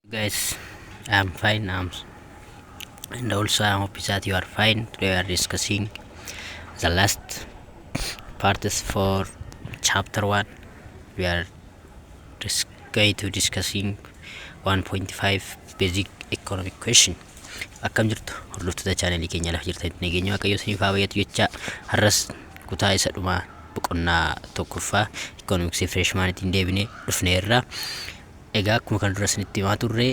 guys i'm fine i'm and also i hope that you are fine today we are discussing the last parts for chapter 1 we are dis- going to discussing 1.5 basic economic question akkam jirtu hordoftoota chaanalii keenya lafa jirtan nageenya waaqayyo isiniif haa bayyatu jecha har'as kutaa isa dhumaa boqonnaa tokkoffaa ikoonomiksii fireeshmaanitiin deebinee dhufneerra Egaa akkuma kana dura isinitti himaa turre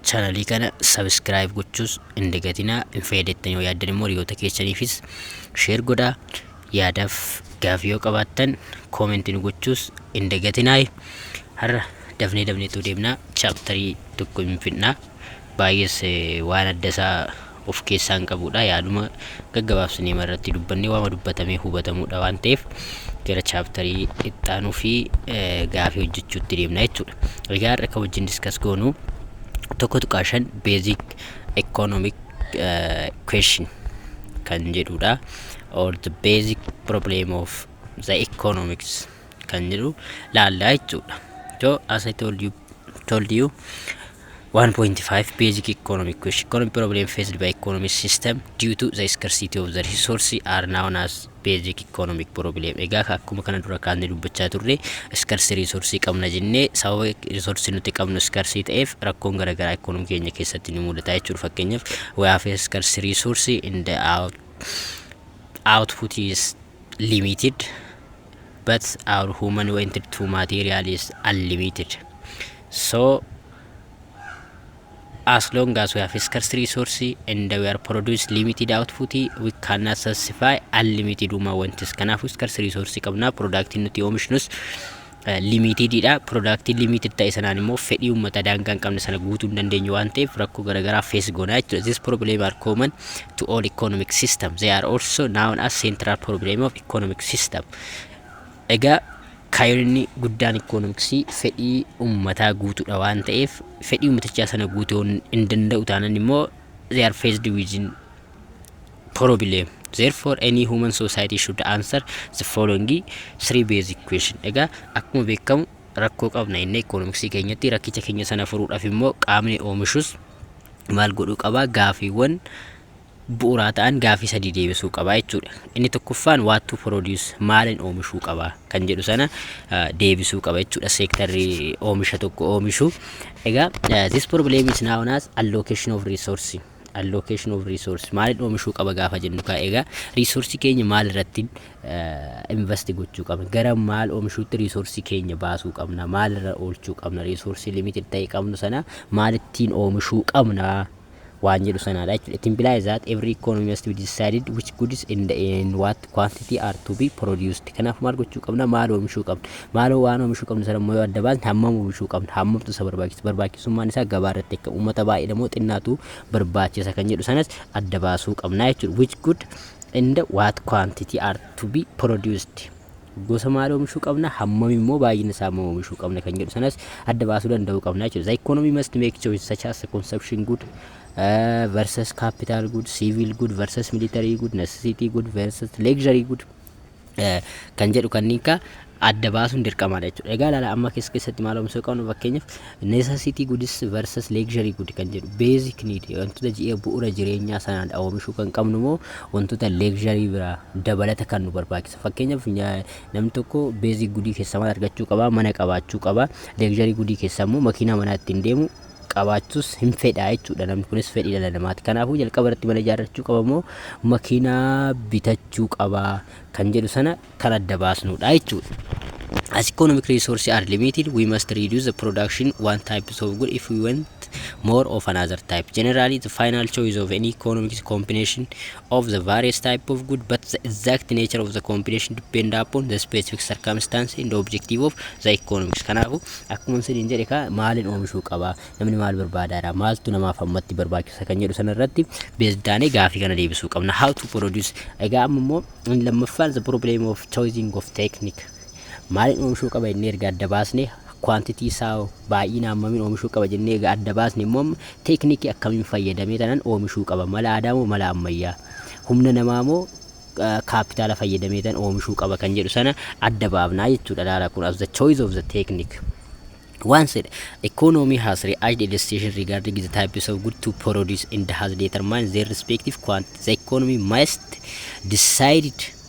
chanalii kana subscribe gochuus hin dagatinaa hin fayyadamtan yoo yaaddan immoo hiriyoota keessaniifis share godhaa yaadaaf gaafii yoo qabaattan comment nu gochuus hin dagatinaa har'a dafnee dafneetu deemna chaaptarii tokko hin fidna baay'ees eh, waan adda isaa of keessaa hin qabuudha yaaduma gaggabaabsinee irratti dubbannee waama dubbatamee hubatamuudha waan ta'eef gara chaaptarii ittaanuu fi gaafii hojjechuutti deemna jechuudha. Egaa har'a kan wajjin diskas goonu tokko tuqaa shan basic economic question kan jedhudha or the basic problem of the economics kan jedhu laallaa jechuudha. So as I told you, told you 1.5 Basic Economic Question Economic problem faced by economic system due to the scarcity of the resource are known as basic economic problem. Egaa ka- akkuma kana dura kaasnee dubbachaa turre scarce resource qabna jennee sababa resource nuti qabnu scarce ta'eef rakkoon garaagaraa economy keenya keessatti ni mudata jechuudha. Fakkeenyaaf we have a scarce resource in the out, output is limited but our human wanted to material is unlimited so as long as we have scarce resource and we are produce limited output we cannot satisfy unlimited uma wantis kanaafuu scarce resource qabna productiin nuti oomishnus eh, limited dha productiin limited ta'e sanaan immoo fedhii uummata daangaa hin qabne sana guutuu hin dandeenyu waan ta'eef rakkoo garaagaraa face goonaa jechuudha this problem are common to all economic system they are also known as central problem of economic system. Egaa kaayonni guddaan ikoonomiksii fedhii uummataa guutuudha waan ta'eef fedhii uummatichaa sana guutuu hin danda'u taanan immoo they are faced with problem. Therefore, any human society should answer the following three basic question. Egaa akkuma beekamu rakkoo qabna inni ikoonomiksii keenyatti rakkicha keenya sana furuudhaaf immoo qaamni oomishus maal godhuu qaba gaafiiwwan bu'uraa ta'an gaaffii sadii deebisuu qaba jechuudha. Inni tokkoffaan what to produce maalin oomishuu qaba kan jedhu sana deebisuu qaba jechuudha seektarri oomisha tokko oomishu. Egaa this problem is now known as allocation of resource. Allocation of resource maalin oomishuu qaba gaafa jennu kaa egaa resource keenya maal irratti invest gochuu qabna gara maal oomishuutti resource keenya baasuu qabna maal irra oolchuu qabna resource limited ta'e qabnu sana maalittiin oomishuu qabna waan jedhu sanaadha jechuudha. It implies that every economy must be decided which goods and in what quantity are to be produced. Kanaaf maal gochuu qabna? Maal oomishuu qabna? Maaloo waan oomishuu qabnu sana immoo yoo adda baasne hammam oomishuu qabna? Hammamtu isa barbaachisa? Barbaachisummaan isaa gabaa irratti akka uummata baay'eedha moo xinnaatu barbaachisa kan jedhu sanas adda baasuu qabna jechuudha. Which good and what quantity are to be produced? gosa maal oomishuu qabna hammam immoo baay'ina isaa immoo oomishuu qabna kan jedhu sanas adda baasuu danda'uu qabna jechuudha. The economy must make choices such as consumption good uh, versus capital good, civil good versus military good, necessity good versus luxury good uh, kan jedhu kanneen kaa adda baasuun dirqamaadha jechuudha. Egaa ilaala amma keessa keessatti maal oomishuu qabnu fakkeenyaaf necessity goods versus luxury good kan jedhu basic need wantoota ji'a bu'uura jireenyaa sanaan oomishuu kan qabnu moo wantoota luxury biraa dabalata kan nu barbaachisan argattu fakkeenyaaf namni tokko beezii gudii keessaa maal argachuu qaba mana qabaachuu qaba leegjarii gudii keessaa immoo makiinaa manaa ittiin deemu qabaachuus hin fedhaa jechuudha namni kunis fedhii dhala namaati kanaafuu jalqaba irratti mana ijaarrachuu qaba moo makiinaa bitachuu qaba kan jedhu sana kan adda baasnudha jechuudha. As economic resources are limited, we must reduce the production one type of good if we want more of another type. Generally, the final choice of any economic combination of the various type of good but the exact nature of the competition depend upon the specific circumstance and objective of the economics kanaafu akkuma isiniin jedhe kaa maaliin oomishuu qaba namni maal barbaadaadha maaltu namaaf ammatti barbaachisa kan jedhu sana irratti beesdaanee gaafii kana deebisuu qabna how to produce egaa amma immoo inni lammaffaan the problem of choosing of technique maaliin oomishuu qaba inni erga adda baasnee quantity isaa baay'ina hammamiin oomishuu qaba jennee egaa adda baasne immoo amma teeknikii akkamiin fayyadamee tanan oomishuu qaba mala aadaa moo mala ammayyaa humna namaa moo kaappitaala fayyadamee tan oomishuu qaba kan jedhu sana adda baafnaa jechuudha laala kun as the choice of the technique One said, economy has reached a decision regarding the types of good to produce and has determined their respective quantity. The economy must decide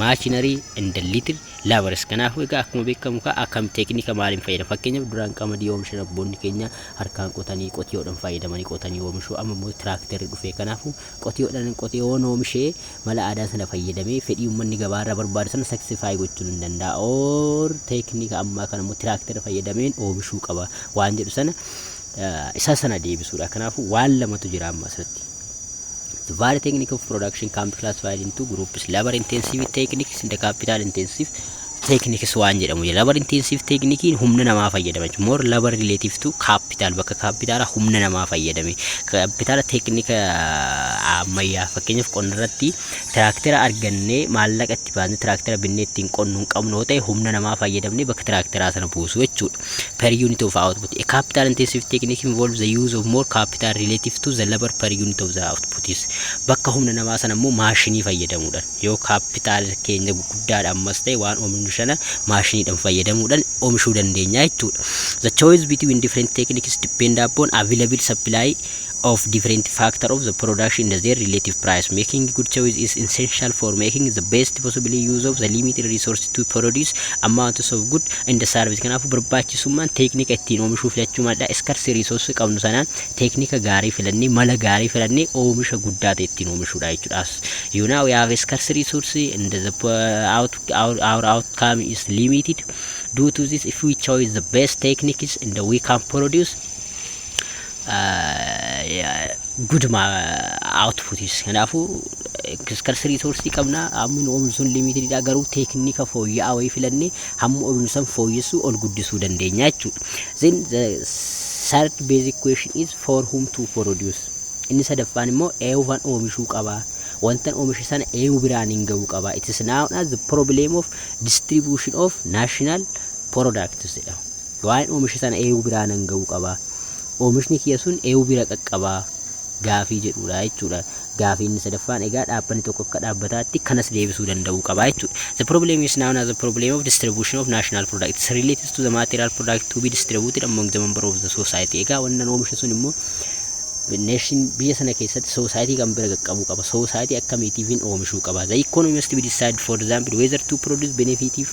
machinery and little labors kanaafuu egaa akkuma beekamu kaa akkam teeknika maaliin fayyadama fakkeenyaaf duraan qamadii oomishan abboonni keenya harkaan qotanii qotiyoodhaan fayyadamanii qotanii oomishuu amma immoo tiraakterri dhufee kanaafuu qotiyoodhaan qotiyoon oomishee mala aadaa sana fayyadamee fedhii uummanni gabaarra barbaadu sana saksifaayi gochuun hin danda'a oor teeknika ammaa kana immoo tiraakterri fayyadameen oomishuu qaba waan jedhu sana isaa sana deebisuudha. Kanaafuu waan lamatu jira amma asirratti. The value technique of production can be classified into groups labor intensive techniques and capital intensive techniques waan jedhamu jira. Labor intensive technique humna namaa fayyadama jechuudha. More labor relative to capital bakka capital humna namaa fayyadame. Capital technique ammayyaa fakkeenyaaf qonna irratti tiraaktera argannee maallaqa itti baasnee tiraaktera binnee ittiin qonnu hin qabnu yoo ta'e humna namaa fayyadamnee bakka tiraakteraa sana buusu jechuudha. per unit of output. A capital intensive technique involves the use of more capital relative to the labor per unit of the output is. Bakka humna namaa sana immoo maashinii fayyadamuudhaan yoo capital keenya guddaadha ammas ta'e waan oomishnu sana maashiniidhaan fayyadamuudhaan oomishuu dandeenya jechuudha. The choice between different techniques depend upon available supply of different factor of the product in their relative price. Making good choice is essential for making the best possible use of the limited resource to produce amounts of good in the service. Kanaafuu barbaachisummaan teeknika ittiin oomishuu filachuu madda scarce resource qabnu sanaan teeknika gaarii filannee mala gaarii filannee oomisha guddaa ta'e ittiin oomishuudha jechuudha. As you know we have a scarce resource and the po- out, our, our outcome is limited. Due to this if we choose the best techniques and we can produce guduma outputis kanaafuu scarce resource qabna hammi nu oomishnu sun limited dha garuu teeknika fooyya'aa wayii filannee hamma oomishnu san fooyyessuu ol guddisuu dandeenya jechuudha. Then the third basic question is for whom to produce. Inni sadaffaan immoo eewufan oomishuu qaba. Wantan oomishe sana eewu biraan hin ga'uu qaba. It is known as the problem of distribution of national products jedhama. Waa'een oomisha sana eeyu biraa nan ga'uu qaba. Oomishni kiyya sun eeyu bira qaqqaba? gaafii jedhuudha jechuudha. Gaafii inni sadaffaan egaa dhaabbanni tokko akka dhaabbataatti kanas deebisuu danda'uu qaba jechuudha. The problem is known as the problem of distribution of national products relates to the material product to be distributed among the member of the society. Egaa wannan oomishe sun immoo nation biyya sana keessatti society kan bira qaqqabuu qaba. Society akkamiitiifin oomishuu qaba. The economy must be decided for example whether to produce benefitive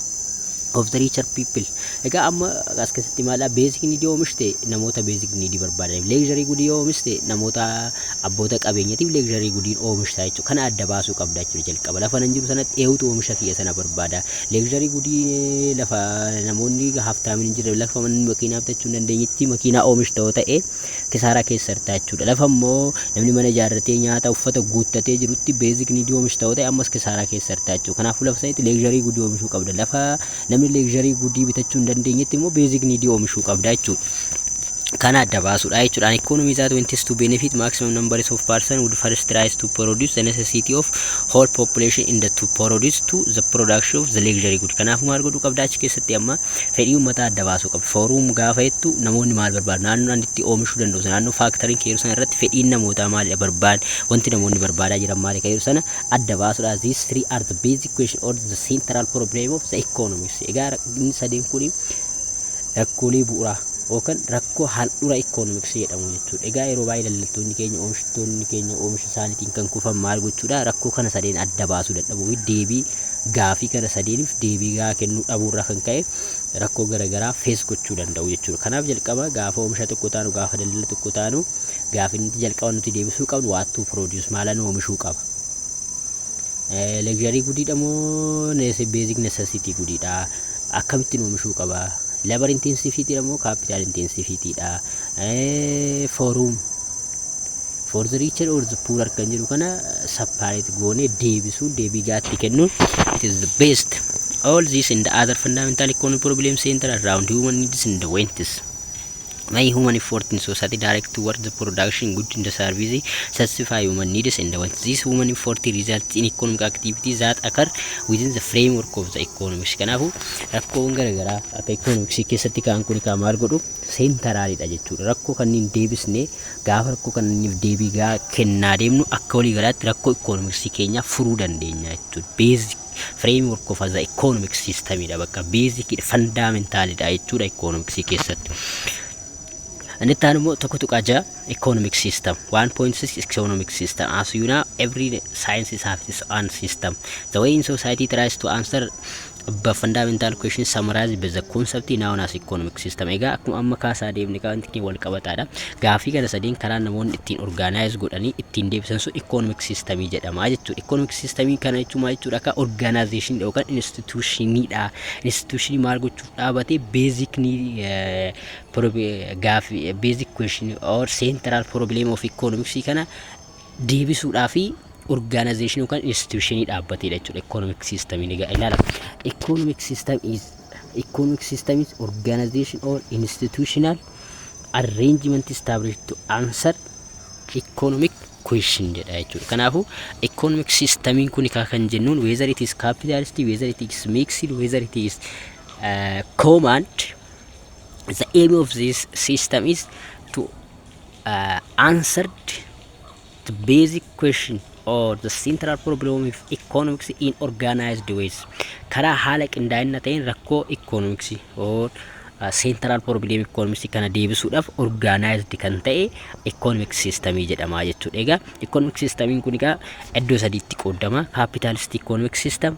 of the richer people Egaa amma as keessatti maalidha basic need yoo oomishte namoota basic need barbaadaniif luxury good yoo oomishte namoota abboota qabeenyatiif luxury goodiin oomishta jechuudha. Kana adda baasuu qabda jechuudha jalqaba. Lafa nan jiru sanatti eewutu oomisha kiyya sana barbaada. Luxury goodiin lafa namoonni haftaamin hin jirre lafa manni makiinaa bitachuu hin dandeenyetti makiinaa oomishta yoo ta'e kisaaraa keessa jirta jechuudha. Lafa immoo namni mana ijaarratee nyaata uffata guuttatee jirutti basic need oomishta yoo ta'e ammas kisaaraa keessa jirta jechuudha. Kanaafuu lafa sanitti luxury goodii oomishuu qabda. Lafa Namni leekzharii gudii bitachuu hin dandeenyetti immoo beezik niidii oomishuu qabda jechuudha. Kana adda baasuudha jechuudha. An economy that wants to benefit maximum numbers of person would first tries to produce the necessity of whole population in the to produce to the production of the luxury good. Kanaafuu maal godhuu qabda achi keessatti amma fedhii uummataa adda baasuu qabda. Fooruum gaafa jettu namoonni maal barbaadu? Naannoo ani itti oomishuu danda'u sana naannoo faaktoriin keeru sana irratti fedhiin namootaa maalidha barbaad wanti namoonni barbaadaa jiran maali keeru sana adda baasuudha. These three are the basic Education or the central problem of the economics. Egaa inni sadeen kun rakkoolee bu'uuraa yookaan rakkoo handhuura economics jedhamu jechuudha. Egaa yeroo baay'ee daldaltoonni keenya oomishtoonni keenya oomisha isaaniitiin kan kufan maal gochuudha rakkoo kana sadeen adda baasuu dadhabuu fi deebii gaafii kana sadeeniif deebii gahaa kennuu dhabuurraa kan ka'e rakkoo garaagaraa fees gochuu danda'u jechuudha. Kanaaf jalqaba gaafa oomisha tokko taanu gaafa daldala tokko taanu gaafa inni jalqaba nuti deebisuu qabnu waattuu produce maalan oomishuu qaba. Legizharii gudiidha moo beezik nesasitii gudiidha? Akkamittiin oomishuu qaba? Labar intiinsifiitiidha moo kaapitaal intiinsifiitiidha? Fooruum for the richer or the poorer kan jedhu kana separate goonee deebisuun deebii gaatti kennuun it is the best. All these and other fundamental economic problems center around human needs and wants. My human effort in society direct towards the production good in the service satisfy human needs and wants. This human effort results in economic activity that occur within the framework of the economics. Kanaafuu rakkoowwan garaagaraa akka economics keessatti ka'an kun kan maal godhu seentaraaliidha jechuudha. Rakkoo kanneen deebisnee gaafa rakkoo kanneenif deebii gaa kennaa deemnu akka walii galaatti rakkoo economics keenyaa furuu dandeenya jechuudha. Basic Framework of the economic system dha bakka basic dha fundamental dha jechuudha economics keessatti. Inni itti aanu immoo tokko tuqaa ja'a economic system 1.6 economic system as you know every science has its own system the way in society tries to answer the fundamental question summarized by the concept known as economic system egaa akkuma amma kaasaa deemne kan wal qabataadha Gaaffii kana sadeen karaan namoonni ittiin organize godhanii ittiin deebisan sun economic system jedhama jechuudha. Economic system kana jechuun maal jechuudha akka organization dha yookaan institution dha. Institution maal gochuuf dhaabate basic gaaffii basic question or central problem of economics kana deebisuudhaa fi organization yookaan institution dhaabbateedha jechuudha. Economic system ni ga'a ilaala. Economic system is economic system is organization or institutional arrangement established to answer economic question jedha jechuudha. Kanaafuu economic systemiin kun kaa kan jennuun whether it is capitalist, whether it is mixed, whether it is uh, command the aim of this system is to uh, answered The basic question or the central problem of economics in organized ways. Karaa haala qindaa'ina ta'een rakkoo economics or uh, central problem economics kana deebisuudhaaf organized kan ta'e economic system jedhama jechuudha. Egaa economic system kun egaa iddoo sadiitti qoodama. Capitalist economic system,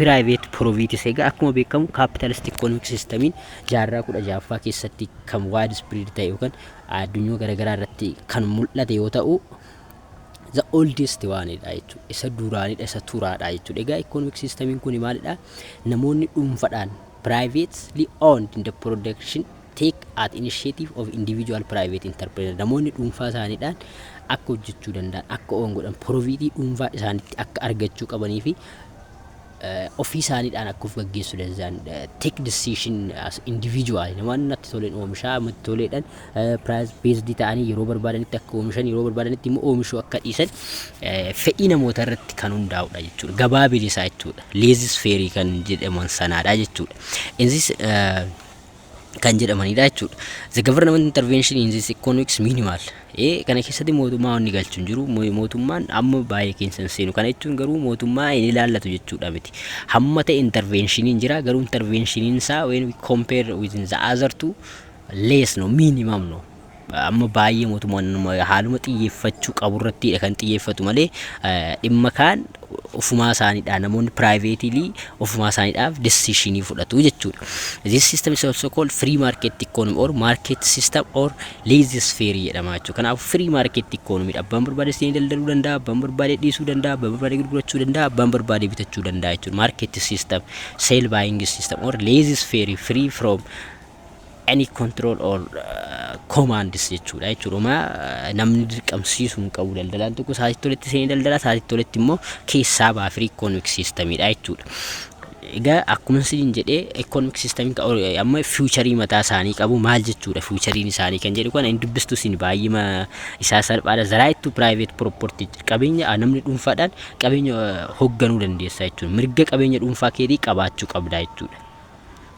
Private Profiits Egaa akkuma beekamu Capitalist Economic Systemiin jaarraa 16ffaa keessatti kan widespread ta'e yookaan addunyaa garaagaraa irratti kan mul'ate yoo ta'u the oldest waanidha jechuudha. Isa duraanidha, isa turaadha jechuudha. Egaa economic systemiin kun maalidha? Namoonni dhuunfadhaan privately owned in the production take at initiative of individual private enterpreneur namoonni dhuunfaa isaaniidhaan akka hojjechuu danda'an akka owan godhan porofiitii dhuunfaa isaanitti akka argachuu qabanii fi ofii isaaniidhaan akka of gaggeessu danda'an take decision as individual namoonni natti toleen oomishaa matti toleedhaan price based ta'anii yeroo barbaadanitti akka oomishan yeroo barbaadanitti immoo oomishuu akka dhiisan fedhii namoota irratti kan hundaa'udha jechuudha gabaa bilisaa jechuudha leezis feerii kan jedhaman sanaadha jechuudha innis kan jedhamanidha jechuudha. The government intervention in this economics minimal. Ee kana keessatti mootummaa wanni galchu hin jiru. Mo- Mootummaan amma baay'ee keessa hin seenu. Kana jechuun garuu mootummaa hin ilaallatu jechuudha miti. Hamma ta'e intervenshiniin jira garuu intervenshiniin isaa when we compare with the other two less no minimum no. Amma baay'ee mootummaan haaluma xiyyeeffachuu qabu irrattiidha kan xiyyeeffatu malee dhimma kaan ofumaa isaaniidhaan namoonni piraayiveetilii ofumaa isaaniidhaaf decision fudhatu jechuudha. This system is also called free market economy or market system or laissez faire jedhama jechuudha. Kanaaf free market economy dha. Abbaan barbaade seenee daldaluu danda'a, abbaan barbaade dhiisuu danda'a, abbaan barbaade gurgurachuu danda'a, abbaan barbaade bitachuu danda'a jechuudha. Market system, sale buying system or laissez faire free from any control or uh, commands jechuudha jechuudha uma namni dirqamsiisuu hin qabu daldalaan tokko sa'aatii toletti seenee daldalaa sa'aatii toletti immoo keessaa ba'a free economic system dha jechuudha. Egaa akkuma isin jedhee economic system amma future mataa isaanii qabu maal jechuudha future isaanii kan jedhu kana hin dubbistu isin baay'ima isaa salphaadha the right to private property qabeenya ah, namni dhuunfaadhaan qabeenya eh, hoogganuu dandeessa jechuudha mirga qabeenya dhuunfaa keetii qabaachuu qabda jechuudha.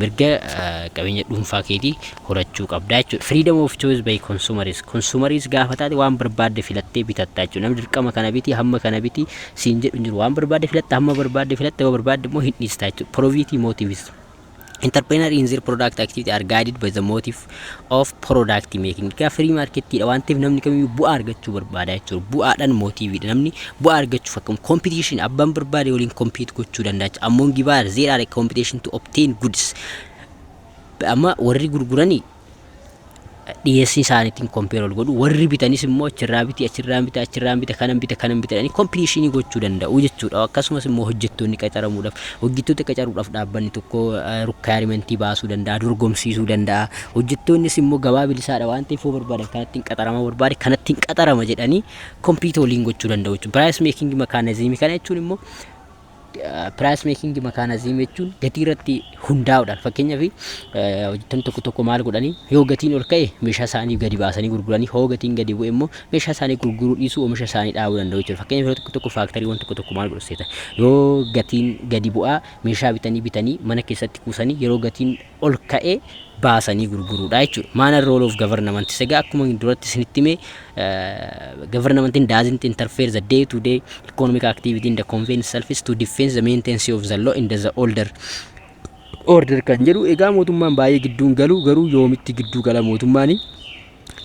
mirga qabeenya dhuunfaa keetii horachuu qabdaa jechuudha. Freedom of choice by consumers. Consumers gaafa taate waan barbaadde filattee bitatta jechuudha. Namni dirqama kana biti, hamma kana biti siin jedhu hin jiru. Waan barbaadde filatta, hamma barbaadde filatta, yoo barbaadde immoo hin dhiista jechuudha. Proviity motives. Entrepreneur in their product activity are guided by the motive of product making egaa free market dha waan ta'eef namni kamiyyuu bu'aa argachuu barbaada jechuudha bu'aadhaan mootiiviidha namni bu'aa argachuuf akkam competition abbaan barbaade waliin compete gochuu danda'a ammoo gibaar there are competition to obtain goods amma warri gurguranii dhiyeessii isaaniitiin kompeer ol godhu warri bitanis immoo achirraa biti achirraa bita achirraa bita kanan bita kanan bita jedhanii kompitishinii gochuu danda'u jechuudha akkasumas immoo hojjettoonni qaxaramuudhaaf Hojjettoota qacaruudhaaf dhaabbanni tokko rukkaayarimentii baasuu danda'a, dorgomsiisuu danda'a. Hojjettoonnis immoo gabaa bilisaadha waan ta'eef yoo barbaadan kanattiin qaxarama barbaade kanattiin qaxarama jedhanii kompiita waliin gochuu danda'u jechuudha. Piraayis meekingi makaanaziimii kana jechuun immoo piraayis meekingi makaanaziimii jechuun gatii irratti hundaa'uudhaan fakkeenyaaf hojjettoonni tokko tokko maal godhanii yoo gatiin ol ka'e meeshaa isaanii gadi baasanii gurguranii hoo gatiin gadi bu'e immoo Meeshaa isaanii gurguruu dhiisuu oomisha isaanii dhaabuu danda'u jechuudha. Fakkeenyaaf yeroo tokko tokko faaktariiwwan tokko tokko maal godhu seeta yoo gatiin gadi bu'aa meeshaa bitanii bitanii mana keessatti kuusanii yeroo gatiin ol ka'e baasanii gurguruudha jechuudha. Maana role of government segaa akkuma duratti isinitti hime government doesn't interfere the day to day economic activity in the convenience selfish to defense the maintenance of the law in the older order kan jedhu egaa mootummaan baay'ee gidduun galu garuu yoomitti gidduu gala mootummaanii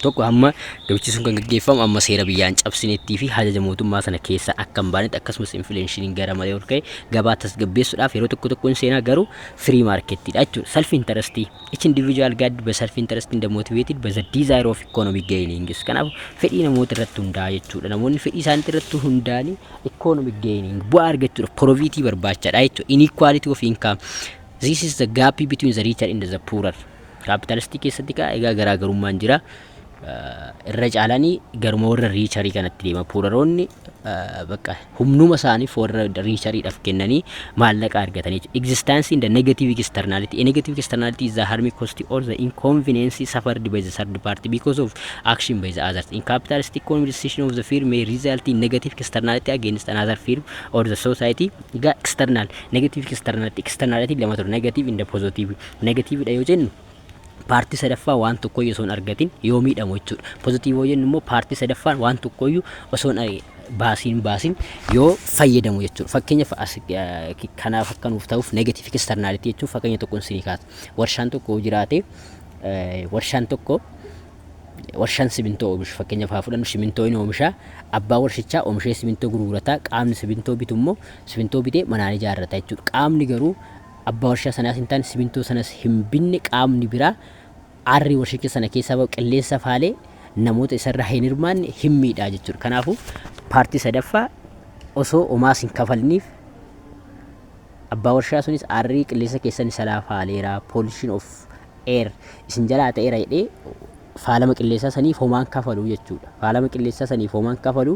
tokko hamma gabichi sun kan gaggeeffamu amma seera biyyaan cabsineettii fi hajaja mootummaa sana keessaa akka hin baanetti akkasumas infileenshiiniin gara malee ol ka'e gabaa tasgabbeessuudhaaf yeroo tokko tokko hin seenaa garuu firii maarkettiidha jechuudha. Salfi intarastii each individual guide by self interest in the motivated by the desire of economic gainings kanaaf fedhii namoota irratti hundaa'a jechuudha. Namoonni fedhii isaaniitti irratti hundaa'anii economic gaining bu'aa argachuudhaaf poroviitii barbaachaadha jechuudha. Inequality of income this is the gap between the richer and the poorer. Kaapitalistii keessatti kaa egaa garaagarummaan jira. Irra caalanii garuma warra riicharii kanatti deema. Puuraroonni bakka humnuma isaaniif warra riichariidhaaf kennanii maallaqa argatanii jechuudha. Existence in the negative externality. A negative externality is the harm cost or the inconvenience suffered by the third party because of action by the others. In capitalist economy, decision of the firm may result in negative externality against another firm or the society. Egaa external, negative externality, externality lama ture. Negative in the positive. Negative dha yoo jennu paartii sadaffaa waan tokkoyyuu osoo hin argatin yoo miidhamu jechuudha. Positive yoo jennu immoo paartii sadaffaan waan tokkoyyuu osoo hin argin baasiin baasiin yoo fayyadamu jechuudha. Fakkeenyaaf as eh, kanaaf akka nuuf ta'uuf negative externality jechuun fakkeenya tokko isinii kaasa. Warshaan tokko yoo jiraate eh, warshaan tokko warshaan simintoo oomishu fakkeenyaaf haa fudhannu simintoo inni oomisha abbaa warshichaa oomishee simintoo gurgurata qaamni simintoo bitu immoo simintoo bitee manaan ijaarrata jechuudha qaamni garuu Abbaa warshaa sanaas hin taane, simintoo sanas hin binne qaamni biraa aarri warshicha sana keessaa ba'u qilleensa faalee namoota isarraa hin hirmaanne hin miidha jechuudha. Kanaafuu paartii sadaffaa osoo omaas hin kafalniif abbaa warshaa sunis aarrii qilleensa keessan isalaa faaleera, pollution of air isin jalaa ta'eera jedhee faalama qilleensaa saniif homaan kafalu jechuudha. Faalama qilleensaa saniif homaan kafalu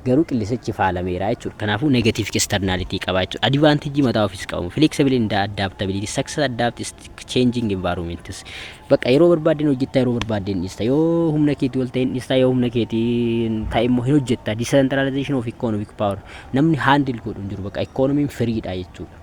garuu qillisichi faalameera jechuudha. Kanaafuu negative externality qaba jechuudha. Advantage mataa ofiis qabu. Flexible in the adaptability, success adapts changing environments. Bakka yeroo barbaadde hin hojjetta, yeroo barbaadde hin dhiista. Yoo humna keetii ol ta'e hin dhiista, yoo humna keetii ta'e immoo hin hojjetta. Decentralization of economic power. Namni handle godhu hin jiru. Bakka economy firiidha jechuudha.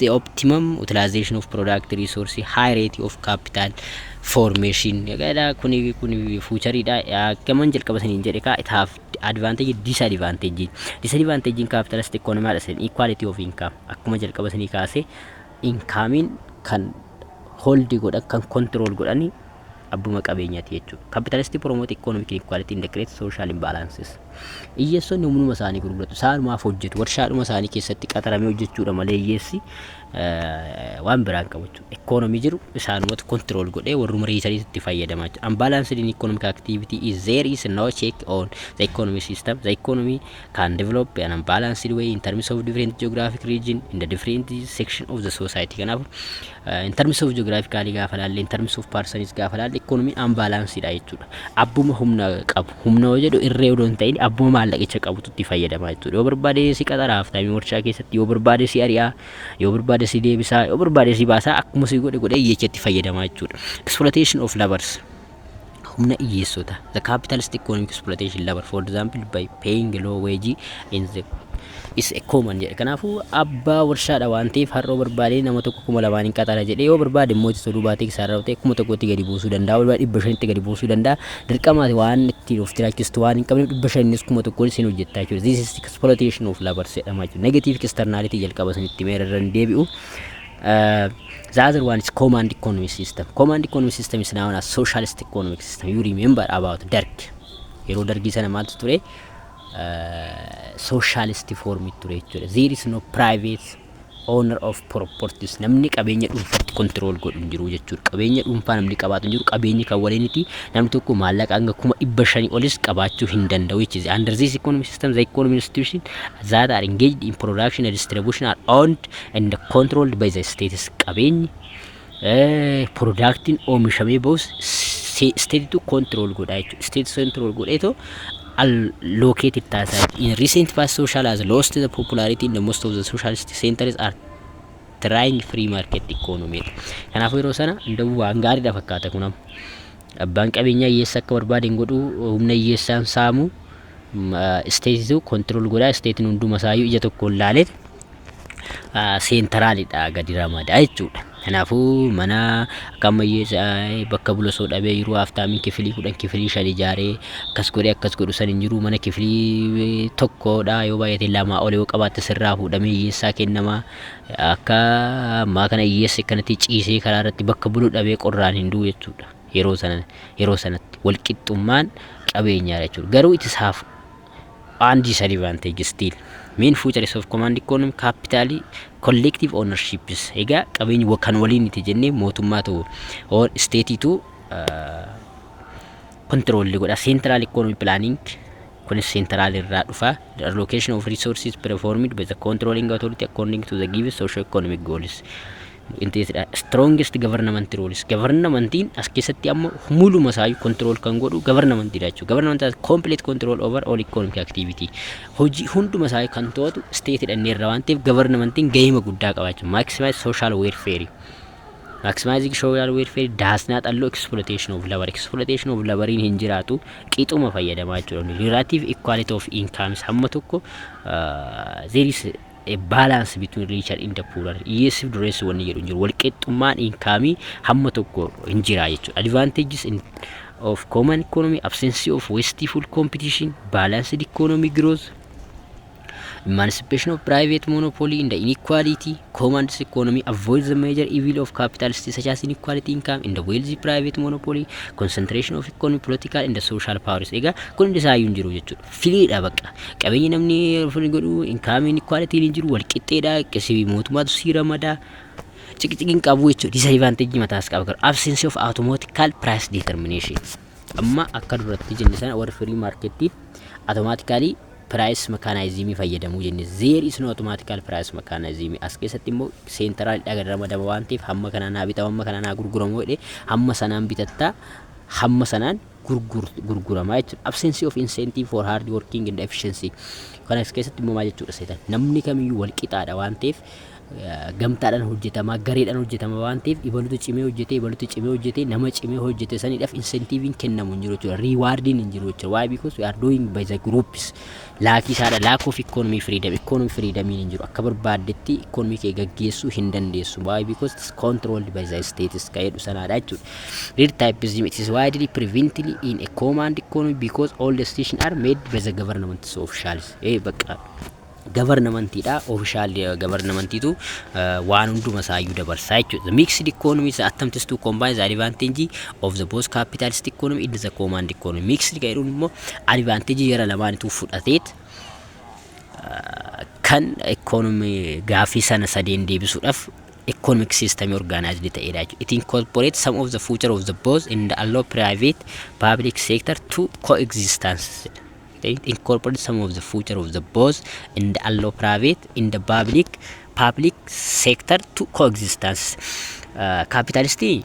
the optimum utilization of product resource high rate of capital formation jedha kuni kuni fuuchariidha akkaman jalqaba saniin jedhe kaa it have advantage disadvantage disadvantage in capitalist economy dha sen equality of income akkuma jalqaba sanii kaase inkaamiin kan holdi godhan kan control godhani abbuma qabeenyati jechuudha. Capitalistic promote economic inequality and create social imbalances. Iyyeessonni humnuma isaanii gurguratu. Isaanumaaf hojjetu. Warshaadhuma isaanii keessatti qaxaramee hojjechuudha malee iyyeessi waan biraan qabu jechuudha. Economy jiru isaanumatu control godhee warruma reesaniitu itti fayyadamaa jechuudha. Unbalanced in economic activity is there is no check on the economy system. The economy can develop an unbalanced way in terms of different geographic region in the different section of the society kanaafu uh, in terms of geographically gaafa laalle in terms of persons gaafa laalle economy unbalanced dha jechuudha abbuma humna qabu humna yoo jedhu irree odoo hin ta'in abbuma maallaqicha qabutu itti fayyadama jechuudha yoo barbaade si qaxara haftaamii warshaa keessatti yoo barbaade si ari'aa yoo barbaade si deebisaa yoo barbaade si baasaa akkuma si godhe godhe jecha itti fayyadama jechuudha exploitation of labors humna iyyeessota the capitalist economic exploitation labor for example by paying low wage in the is a common jedhe kanaafuu abbaa warshaadha waan ta'eef har'oo barbaadee nama tokko kuma lamaan hin qaxara jedhee yoo barbaade immoo itti toluu baatee isaa irraa ta'e kuma tokkotti gadi buusuu danda'a walbaa dhibba shanitti gadi buusuu danda'a dirqamaati waan ittiin of jiraachistu waan hin qabneef dhibba shanis kuma tokkoon isin hojjettaa jechuudha this is exploitation of labor jedhama jechuudha negative externality jalqaba isinitti meera irra hin deebi'u Uh, the other one is command economy system. Command economy system is known as socialist economic system. You remember about Dark. Yeroo dargii sana maaltu ture? Uh, socialist form ture jechuudha. There is no private owner of properties. Namni qabeenya dhuunfaatti control godhu hin jiru jechuudha. Qabeenya dhuunfaa namni qabaatu hin jiru. Qabeenyi kan waliiniti namni tokko maallaqa hanga kuma dhibba shanii olis qabaachuu hin danda'u jechuudha. Under this economic system, the economic institution that are engaged in production and distribution are owned and controlled by the states qabeenyi production oomishamee bahus state control godha jechuudha. State control godheetoo allocated taasisaa. In recent past social has lost the popularity in the most of the socialist centers are trying free market economy. Kanaafuu yeroo sana hundawuu waan gaariidha fakkaata kunam. Abbaan qabeenyaa hiyyeessa akka barbaade hin godhu humna hiyyeessaan saamu isteetitu kontirool godhaa isteetiin hunduma isaayyuu ija tokkoon laalee seentaraalidha gadi ramada jechuudha. Kanaafuu mana akka ammayyeessa'ee bakka bula soo dhabee yeroo haaftaamin kifilii kudhan kifilii shan ijaaree akkas godhee akkas godhu san hin jiru mana kifilii tokkodha yoo baay'ate lamaa ol yoo qabaatte sirraa fuudhamee hiyyeessaa kennama akka ammaa kana hiyyeessi akkanatti ciisee karaa irratti bakka bulu dhabee qorraan hin du'u jechuudha yeroo sana yeroo sanatti walqixxummaan qabeenyaadha jechuudha garuu itti saaf and disadvantage still main features of command economy capital collective ownerships egaa qabeenyi wa- kan waliin itti jennee mootummaatu or isteetiitu kontiroolli godha central economy planning kunis central irraa dhufa the allocation of resources performed by the controlling authority according to the given socio economic goals qindeessidha. Strongest government rules governmentiin as keessatti amma muluma isaa control kan godhu governmentidha jechuudha. Government has complete control over all economic activity. Hojii hunduma isaa kan to'atu stateidha inni irra waan ta'eef governmentiin gahee guddaa qaba jechuudha. Maximize social welfare. Maximizing social welfare does not allow exploitation of labor. Exploitation of laboriin hin jiraatu qixuma fayyadamaa jechuudha. Relative equality of incomes hamma tokko there is a balance between richer in the poorer hiyyeessiif dureessi wanni jedhu hin jiru walqixxummaan inkaamii hamma tokko hin jira jechuudha advantages in of common economy absence of wasteful competition balanced economy growth emancipation of private monopoly in the inequality command economy avoids the major evil of capitalists such as inequality income in the wealthy private monopoly concentration of economy political and the social powers egaa kun hundi isaayyuu hin jiru jechuudha Firiidha bakka. Qabeenyi namni ofirra godhu income inequality hin jiru wal qixxeedha qisii mootummaatu sii ramada. Ciqiciqi hin qabu jechuudha. Disadvantage mataas qaba garuu absence of automatical price determination. Amma akka duratti jenne sana warri free market automatically price mechanism fayyadamu jenne there is no automatical price mechanism as keessatti immoo central dhaga ramadama waan ta'eef hamma kanaa naa bitamu hamma kanaa naa gurguramu jedhee hamma sanaan bitatta hamma sanaan gurgurtu, gurgurama jechuudha. Absence of incentive for hard working and efficiency. Kana as keessatti immoo maal jechuudha seetan? Namni kamiyyuu wal qixaadha waan ta'eef gamtaadhaan hojjetamaa, gareedhaan hojjetamaa waan ta'eef ibalutu cimee hojjetee, ibalutu cimee hojjetee, nama cimee hojjete sanidhaaf incentiviin kennamu hin jiru jechuudha. Riiwaardiin hin jiru jechuudha. Why? Because we are doing by the groups. Laakii saadha lack of economy freedom economy freedom hin jiru akka barbaaddetti economy kee gaggeessuu hin dandeessu why because it is controlled by the states ka jedhu sanaadha jechuudha read typism it is widely prevently in a command economy because all decisions are made by the government so officials ee bakka gavarnamantiidha ofishaal gavarnamantiitu waan hunduma isaayyuu dabarsaa jechuudha mixed economy attempts to combine the advantage of the both capitalist economy in the command economy mixed ka jedhuun immoo advantage jara lamaanituu fudhateet kan economy gaaffii sana sadeen deebisuudhaaf economic system organized ta'edha jechuudha. It incorporates some of the future of the both in the allow private public sector to coexistence. It incorporates some of the future of the both in the allow private in the public public sector to coexistence. Kaapitaalistii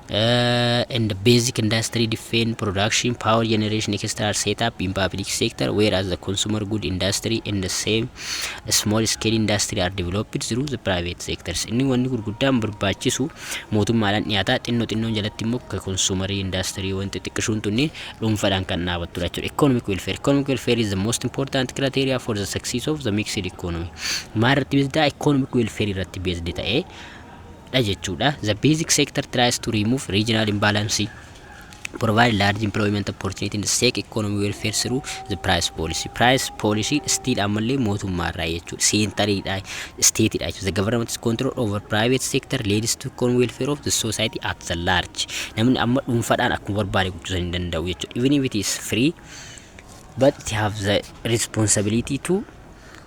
and basic industry defense production power generation extra set up in public sector whereas the consumer good industry and the same small scale industry are developed through the private sectors inni wanni gurguddaan barbaachisu mootummaadhaan dhiyaataa xinnoo xinnoon jalatti immoo ka consumer industry wanti xiqqishuun tunni dhuunfaadhaan kan dhaabattudha jechuudha economic welfare economic welfare is the most important criteria for the success of the mixed economy maal irratti beesdaa economic welfare irratti beesdi ta'ee dha jechuu dha. The basic sector tries to remove regional imbalance, provide large employment opportunity and seek economy welfare through the price policy. Price policy still ammallee mootummaa irraa jechuu dha. Seentarii dha, state dha jechuu. The government's control over private sector leads to economic welfare of the society at the large. Namni amma dhuunfadhaan akkuma barbaade gochuu hin danda'u jechuu dha. Even if it is free, but it have the responsibility to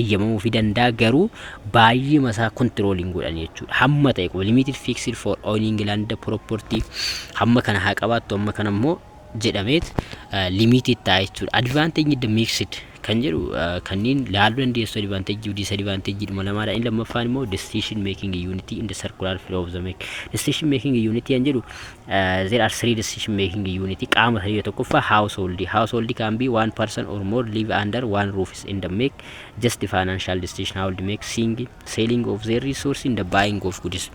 eyyamamuufi danda'a garuu baay'eema isaa control hin godhan jechuudha. Hamma ta'e qofa limited fixed for owning land property hamma kana haa qabaattu hamma kana immoo jedhameet limited ta'a jechuudha. Advantage the mixed kan jedhu kanneen laaluu dandeessu advantage of disadvantage dhuma lamaadha. Inni lammaffaan immoo decision making unit in the circular flow of the make. Decision making unit kan jedhu there are three decision making unit qaama sadii tokkoffaa household household can be one person or more live under one roof in the make just financial decision household make sing selling of their resource in the buying of goods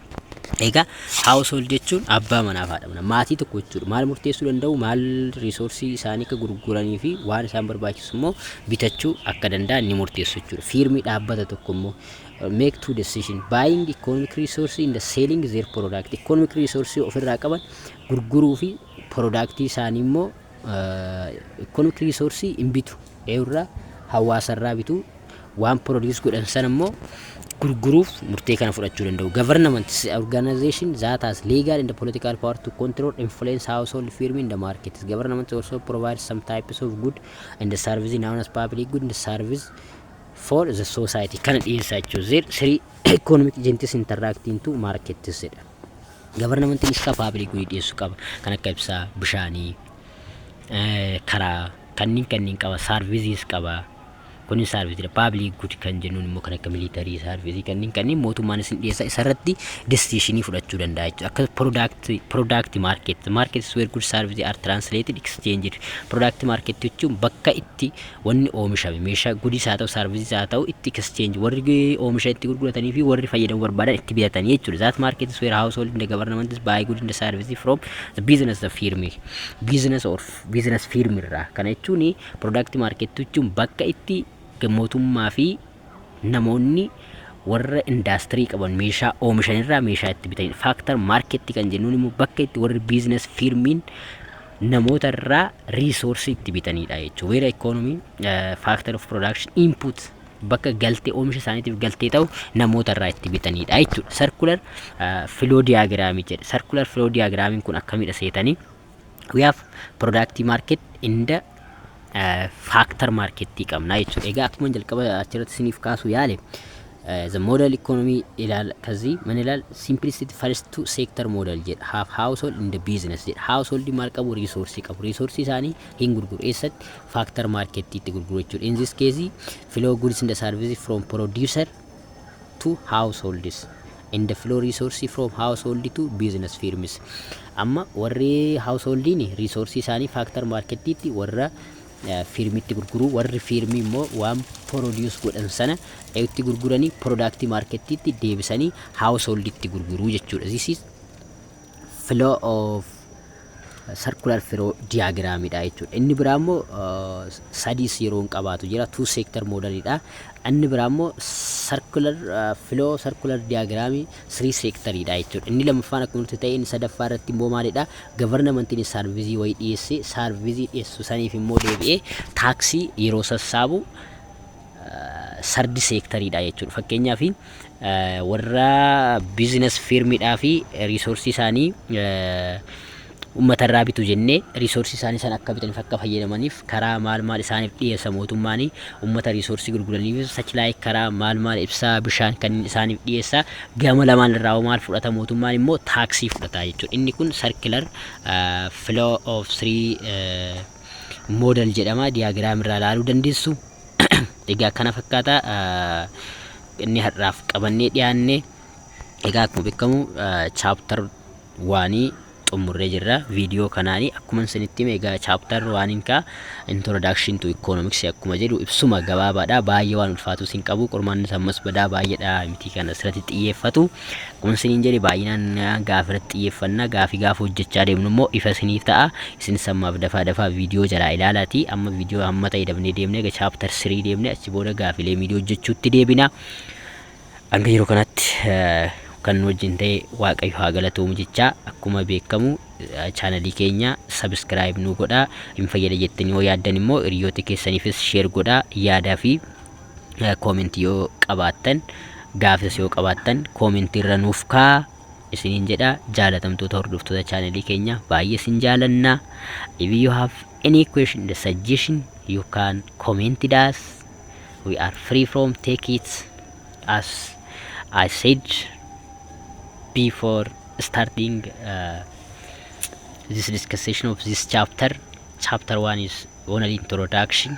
egaa household jechuun abbaa manaa fi haadha manaa maatii tokko jechuudha maal murteessuu danda'u maal riisoorsii isaanii akka gurguranii fi waan isaan barbaachisu immoo bitachuu akka danda'an ni murteessu jechuudha fiirmii dhaabbata tokko immoo make two decision buying economic resource and selling their product economic resource ofirraa qaban gurguruu fi product isaanii immoo economic resource hin bitu eewurraa hawaasarraa bitu waan produce godhan sana immoo gurguruuf murtee kana fudhachuu danda'u government is an organization that has legal and political power to control influence household firm in the market government also provides some types of good and service known as public good and service for the society kana dhiyeessaa jechuudha. There three economic agents interacting to markets jedha. Gabarnamantiin ibsaa paabilik gudii dhiyeessu qaba. Kan akka ibsaa, bishaanii, eh, karaa, kanneen kanneen qaba, saarviziis qaba. Kunin saarviziidha. Paabilik gud kan jennuun immoo kan akka miliitarii, saarvizii kanneen kanneen mootummaan isin dhiyeessa isarratti destiishinii fudhachuu danda'a jechuudha. Akka product, product market, markets where good services are translated, exchanged. Product market jechuun bakka itti wanni oomishame meeshaa goodiis haa ta'u sarvisis haa ta'u itti exchange warri oomisha itti gurguratanii fi warri fayyadamuu barbaadan itti bitatanii jechuudha that market is where household and the government is buy good and the service from the business the firm business or business firm irraa kana jechuun product market jechuun bakka itti mootummaa fi namoonni warra indaastirii qaban meeshaa oomishan irraa meeshaa itti bitanidha. Faaktar maarketti kan jennuun immoo bakka itti warri biizines fiirmiin namoota irraa riisoorsii itti bitanidha jechuudha. Weera ikoonomiin faaktar of production input bakka galtee oomisha isaaniitiif galtee ta'u namoota irraa itti bitanidha jechuudha. Sarkular filoo diyaagiraamii jedha. Sarkular filoo diyaagiraamiin kun akkamidha seetanii? we have product market in the uh, factor market qabna jechuudha. Egaa akkuma jalqaba achirratti isiniif kaasu yaale uh, the model economy ilaal kazi man ilaal simplicity first two sector model jedha half household in the business jedha household maal qabu resource qabu resource isaanii hin gurguru eessatti factor market itti gurguru jechuudha. In this case flow goods in the service from producer to households and flow resource from household to business firms amma warri householdiin resource isaanii factor markettiitti warra fiirmitti gurguruu warri fiirmii immoo waan produce godhan sana itti gurguranii product markettiitti deebisanii householditti gurguruu jechuudha this is flow of circular flow diagram dha jechuudha. Inni biraa immoo uh, sadiis yeroo hin qabaatu jira two sector model dha. Inni biraa immoo circular uh, flow circular diagram three sector dha jechuudha. Inni lammaffaan akkuma nuti ta'e inni sadaffaa irratti immoo maalidha? Governmentiin saarvizii wayii dhiyeesse saarvizii dhiyeessu saniif immoo deebi'ee taaksii yeroo sassaabu Sardi seektarii dha jechuudha. Fakkeenyaaf warra biizinas fiirmiidhaa fi riisoorsii isaanii uummata irraa bitu jennee riisoorsii isaanii sana akka bitaniif akka fayyadamaniif karaa maal maal isaaniif dhiyeessa mootummaan uummata riisoorsii gurguraniif sachilaayi karaa maal maal ibsaa bishaan kan isaaniif dhiyeessa gama lamaan irraa maal fudhata mootummaan immoo taaksii fudhata jechuudha. Inni kun sarkilar flow of three moodal jedhama diyaagiraam irraa ilaaluu dandeessu. egaa kana fakkaata inni har'aaf qabannee dhiyaanne egaa akkuma beekamu chaaptar waanii xumurree jirra viidiyoo kanaani akkuma isinitti hime egaa chaaptar waaniin kaa introduction to economics akkuma jedhu ibsuma gabaabaadha baay'ee waan ulfaatus hin qabu qormaannis ammas badaa baay'eedha mitii kana asirratti xiyyeeffatu Kun siniin jedhe baay'inaan gaaf irratti xiyyeeffanna gaafii gaafa hojjechaa deemnu immoo ifa siniif ta'a isinis ammaaf dafaa dafaa viidiyoo jalaa ilaalaati amma viidiyoo hamma ta'e dabnee deemne ega chaaptar sirii deemne achi booda gaafilee miidiyoo hojjechuutti deebina hanga yeroo kanatti kan nu wajjin ta'e waaqayyo haa galatoomu jechaa akkuma beekamu chaanalii keenya sabiskiraayib nu godhaa hin fayyada jettanii yoo yaaddan immoo hiriyoota keessaniifis sheer godhaa yaadaa fi koomentii yoo qabaattan gaafis yoo qabaattan koomentii irra nuuf kaa isiniin jedha jaalatamtoota hordoftoota chaanalii keenya baay'ee isin jaalanna if you have any question the suggestion you can comment it us we are free from take it as I said before starting uh, this discussion of this chapter chapter one is only introduction